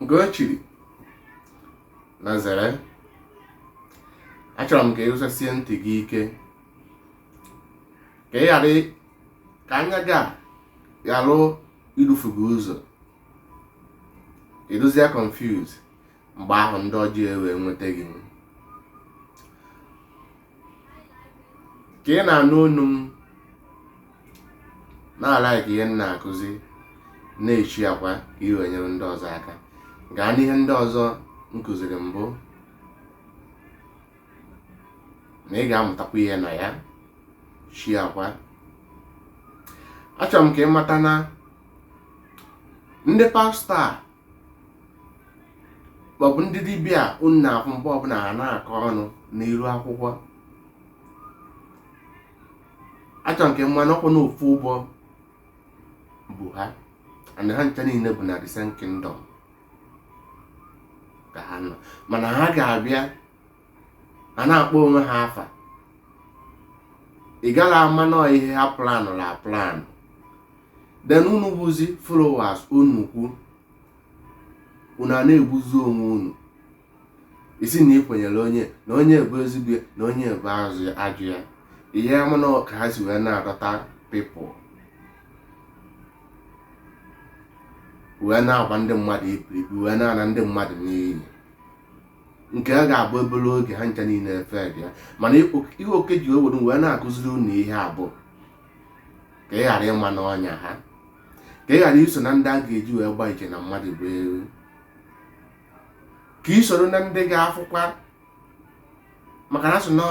nke o chiri na zere achọrọ m ka ị wụsasie ntị gị ike ka ị ghara ka anya gị ghara idufu gị ụzọ ị dụzie confuse mgbe ahụ ndị ọjọọ ewee nweta gị ka ị na-anụ onu m na-alike ihe m na-akụzi na-esharekwa ka ị wee nyere ndị ọzọ aka gaa n'ihe ndị ọzọ m kụziri mbụ na ị ga-amụtakwa ihe na ya sharekwa achọrọ m ka ị mata na ndị pastọ a maọbụ ndị dibịa unu na-afụ mgbe ọbụla ha na-akọ ọnụ n'iru akwụkwọ achọ m ka ị ma na ọkwa na ofu ụgbọ bu ha and ha ncha niile bụ na the same kingdom ka ha nọ mana ha ga-abịa a na-akpọ onwe ha afa ị gaghị ama na ọ ihe ha planụlụ aplanụ then unu bụzi followers unu kwu unu a na-egbuzi onwe unu isi na ị kwenyere onye na onye bụ ezigbo ya na onye bụ ajọ ajọ ya ị ya ama na ka ha si wee na-adọta people wee na-agwa ndị mmadụ iberibe wee na-ana ndị mmadụ n'iyi nke a ga-abụ obere oge ha ncha niile efe bịa mana ihe oke ji wee were wee na-akụziri unu ihe a bụ ka ị ghara ịma n'ọnya ha ka ị ghara iso na ndị a ga-eji wee gba iche na mmadụ bụ ewu ka ị soro na ndị ga-afụkwa maka na a sị na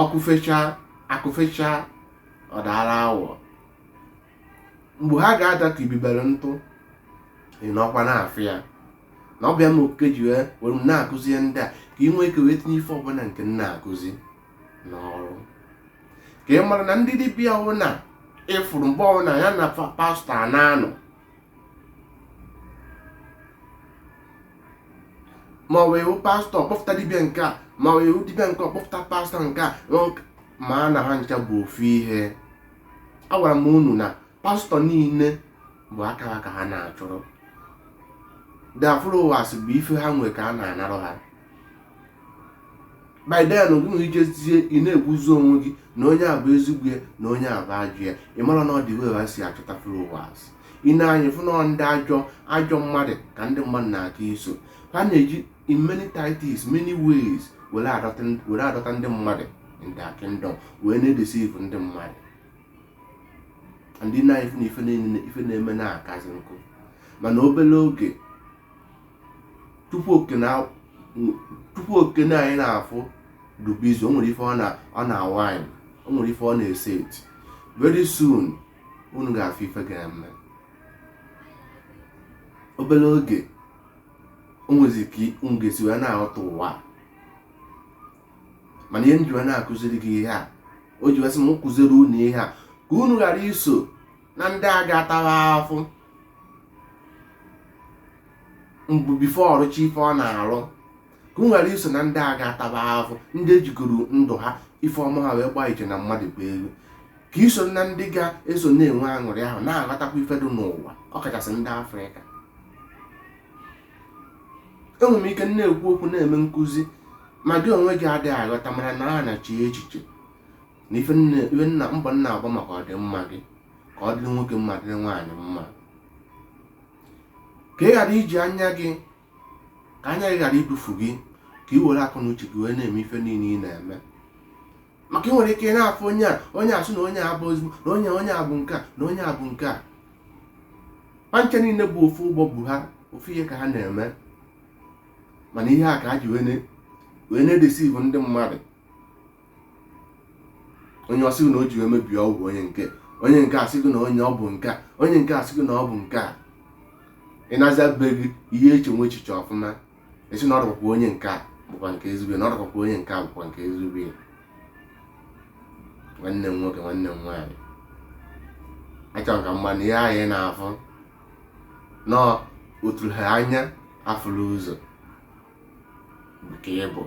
ọkụ fecha akụ fecha ọ dara awọ mgbe ha ga-ada ka ibibere ntụ ị nọkwa na-afụ ya na ọ bụ ya mere okike ji wee were m na-akụzi ihe ndị a ka ị nwee ike wee tinye ife ọbụla nke m na-akụzi n'ọrụ ka ị mara na ndị dibịa ọbụna ị fụrụ mgbe ọbụla ya na fa- pastọ a na-anụ ma ọ wee wụ pastọ kpọpụta dibịa nke a ma ọ wee wụ dibịa nke ọ kpọpụta pastọ nke a maa na ha ncha bụ ofu ihe agwara m unu na pastọ niile bụ akara ka ha na-achụrụ their followers bụ ife ha nwere ka ha na-anarụ ha by then gị nwa ị jezie ị na-egbuzi onwe gị na onye a bụ ezigbo ya na onye a bụ ajọ ya ị marọ na ọ the way ha si achọta followers ị nee anya fụ na ndị ajọ ajọ mmadụ ka ndị mmadụ na-aka iso ha na-eji in many tactics many ways were adọta ndị mmadụ in their kingdom wee na-edeceive ndị mmadụ ndị na ife na ife niile ife na-eme na-akazi nkụ mana obere oge chukwu oke nna chukwu oke nna anyị na-afụ dụ busy o nwere ife ọ na-awind o nwere ife ọ na-eset very soon unu ga-afụ ife ga-eme obere oge o nwezi ka m ga-esi wee na-aghọta ụwa mana ihe m ji wee na-akụziri gị ihe a o ji wee sị m kụziri unu ihe a ka unu ghara iso na ndị a ga-atawa afụ mbụ before ọ rụchaa ife ọ na-arụ ka unu ghara iso na ndị a ga-ataba afụ ndị e jigoro ndụ ha ife ọma ha wee gbaa iche na mmadụ bụ ego ka i soro na ndị ga-eso na-enwe aṅụrị ahụ na-aghọtakwa ife dị n'ụwa ọkachasị ndị afrịka enwere m ike na-ekwu okwu na-eme nkụzi ma gị onwe gị adịghị aghọta mara na a na-eche echiche na ife m na mbọ m na-agba maka ọdịmma gị ka ọ dịrị nwoke mma dịrị nwaanyị mma ka ị ghara iji anya gị ka anya gị ghara idufu gị ka ị were akọ na uche gị wee na-eme ife niile ị na-eme maka ị nwere ike na-afụ onye a onye a sị na onye a bụ ezigbo na onye onye a bụ nke a na onye a bụ nke a fa ncha niile bụ ofu ụgbọ bu ha ofu ihe ka ha na-eme mana ihe a ka ha ji wee na-edeceive ndị mmadụ onye a sị gị na o ji wee mebie ọgwụ onye nke onye nke a sị gị na onye a bụ nke onye nke a sị gị na ọ bụ nke a ị nazie be gị ihe echewe echiche ọfụma ị sị na ọ dụkwa ka onye nke a bụkwa nke ezigbo na ọ dụkwa ka onye nke a bụkwa nke ezigbo ya nwanne m nwoke nwanne m nwaanyị achọrọ ka m gwa unu ihe anyị na-afụ na o turu ha anya afụrọ ụzọ maka ịbụ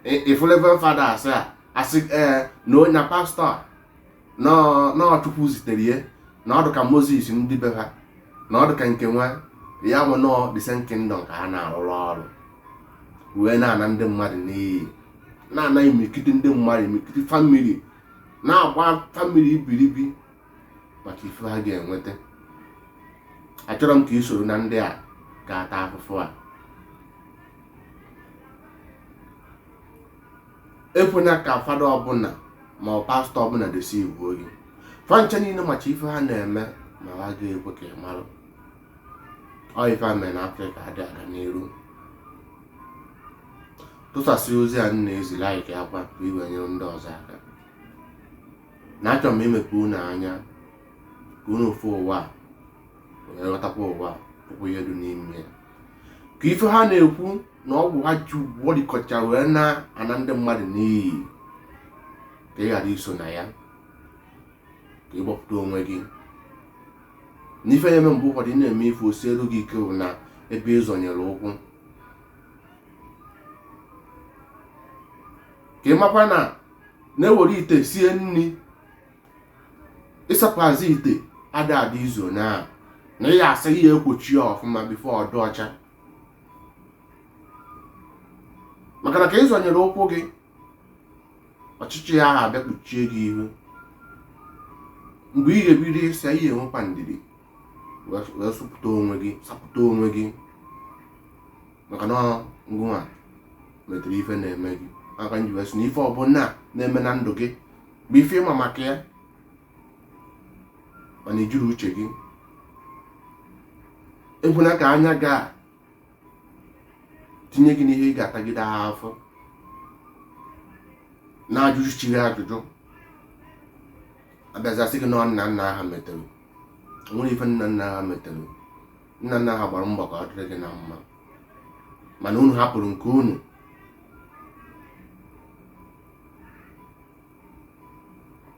ị fụ reverend fada asị a asị ee na onye pastọ na ọ chukwu zitere ya na ọ dụ ka moses ndị be ha na ọ dụ ka nke nwa ya bụ na ọ the same kingdom ka ha na-arụrụ ọrụ wee na-ana ndị mmadụ n'iyi na-ana imikiti ndị mmadụ imikiti family na-agba family ibiribi maka ife ha ga-enweta achọrọ m ka ị soro na ndị a ga-ata afụfụ a ekwena ka fada ọbụla ma ọ pastọ ọbụla deceive gị fa ncha niile macha ife ha na-eme ma ha ga-ekwe ka ị marụ ọ ife a mere na afrịka adị aga n'iru tụsasị ozi a m na-ezi like kwa ka i wee nyere ndị ọzọ aka na achọrọ m imepe unu anya ka unu fụ ụwa wee ghọtakwa ụwa fụkwa ihe dị n'ime ya ka ife ha na-ekwu na ọgwụ ha ji agwọ dịkọcha wee na-ana ndị mmadụ n'iyi ka ị ghara iso na ya ka ị gbapụta onwe gị n'ife na-eme mgbe ụfọdụ ị na-eme ife o sielu gị ike bụ na ebe ị zọnyere ụkwụ ka ị makwa na na e were ite sie nri ịsapụazị ite ada ada izu onye ahụ na ị ya-asa ị ya-ekwocha ya ọfụma before ọ dụ ọcha maka na ka ị zọnyere ụkwụ gị ọchịchị ya ahụ abịa kpuchie gị ihu mgbe ị ga-ebido ịsa ị ya-enwekwa ndidi wee sapụta onwe gị maka na ngụnwa metere ife na-eme gị ya ka m ji wee sị na ife ọbụla na-eme na ndụ gị bụ ife ị ma maka ya mana i jiri uche gị ekwena ka anya gị a tinye gị n'ihe ị ga-atagide afụfụ na-ajụ chi gị ajụjụ a bịazie sị gị na nna nna ha metere nwere ife nna nna ha metere nna nna ha gbara mbọ ka ọ dịrị gị na mma mana unu hapụrụ nke unu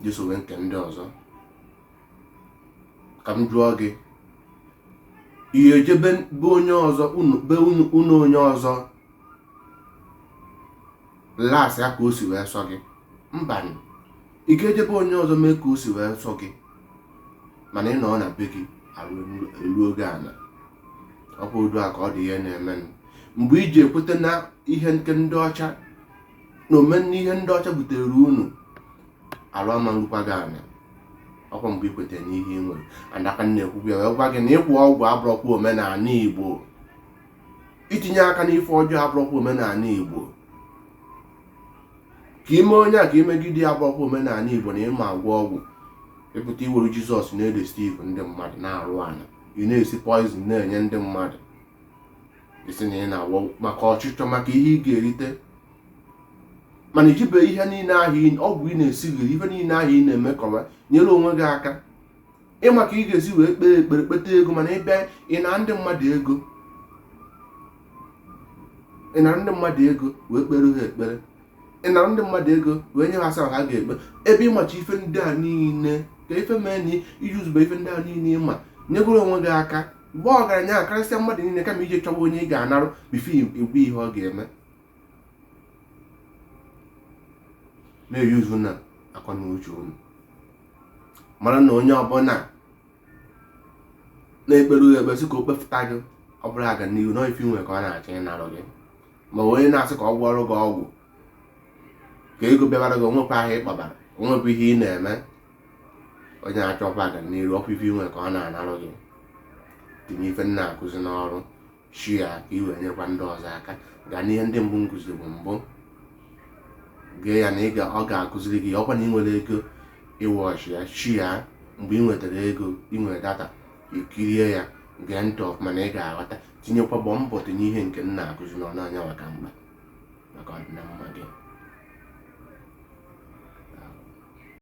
jesowe nke ndị ọzọ ka m jụọ gị ị ya-eje be be onye ọzọ be ụnọ onye ọzọ las ya ka o si wee sọ gị mbanụ ị ga-eje be onye ọzọ mee ka o si wee sọ gị mana ị nọ na be gị arụ elu oge ana ọkwa otu a ka ọ dị ihe na-eme mgbe i ji ekweta na ihe nke ndị ọcha na omenna ihe ndị ọcha butere unu arụ ama ngwụkwa gị anya ọkwa mgbe i kweta n'ihe ị nwere and a ka na-ekwukwu ya wee gwa gị na ịkọ ọgwụ abụrọkwa omenala igbo itinye aka n'ife ọjọọ abụrọkwa omenala igbo ka ime onye a ka imegide ya abụrọkwa omenala igbo na ị ma agwọ ọgwụ ị pụta i were jizọs na-edeceive ndị mmadụ na-arụ ana ị na-esi poison na-enye ndị mmadụ ị sị na ị na-agwọ ọgwụ maka ọchịchọ maka ihe ị ga-erite mana i jibe ihe niile ahụ ọgwụ ị na-esigharị ihe niile ahụ ị na-emekọwa nyere onwe gị aka ị ma ka ị ga-esi wee kpee ekpere kpeta ego mana ị bịa ịna ndị mmadụ ego ị na ndị mmadụ ego wee kpere ha ekpere ị na ndị mmadụ ego wee nye ha asaa ha ga-ekpe ebe ị macha ife ndị a niile ka ife mee na iji uzube ife ndị a niile ị ma nyegoro onwe gị aka mgbe ọgaranya a karịsịa mmadụ niile kama i je chọwa onye ị ga-anarụ before ị gwa ya ihe ọ ga-eme na-ejizinụ akọ na uche unu mara na onye ọbụla na-ekpere ya ekpe sị ka o kpefụta gị ọ bụrụ aga n'ihu na ife i nwe ka ọ na-achọ ịnarụ gị ma onye na-asị ka ọ gwọrọ gị ọgwụ ka ego bịabara gị o nwehụ ahịa ị kpabara o nwehụ ihe ị na-eme onye achọkwa aga n'iru ọkwa ife i nwe ka ọ na-anarụ gị tinye ife m na-akụzi n'ọrụ share ka i wee nyekwa ndị ọzọ aka gaa n'ihe ndị mbụ m kụziribu mbụ gee ya na ọ ga-akụziri gị ọkwa na ị nwerọ ego ị watch ya share mgbe ị nwetara ego ị were data kirie ya gee ntị ọfụma na ị ga-aghọta tinyekwa gbaa mbọ tinye ihe nke m na-akụzi n'ọrụ anya maka mma maka ọdịnamma gị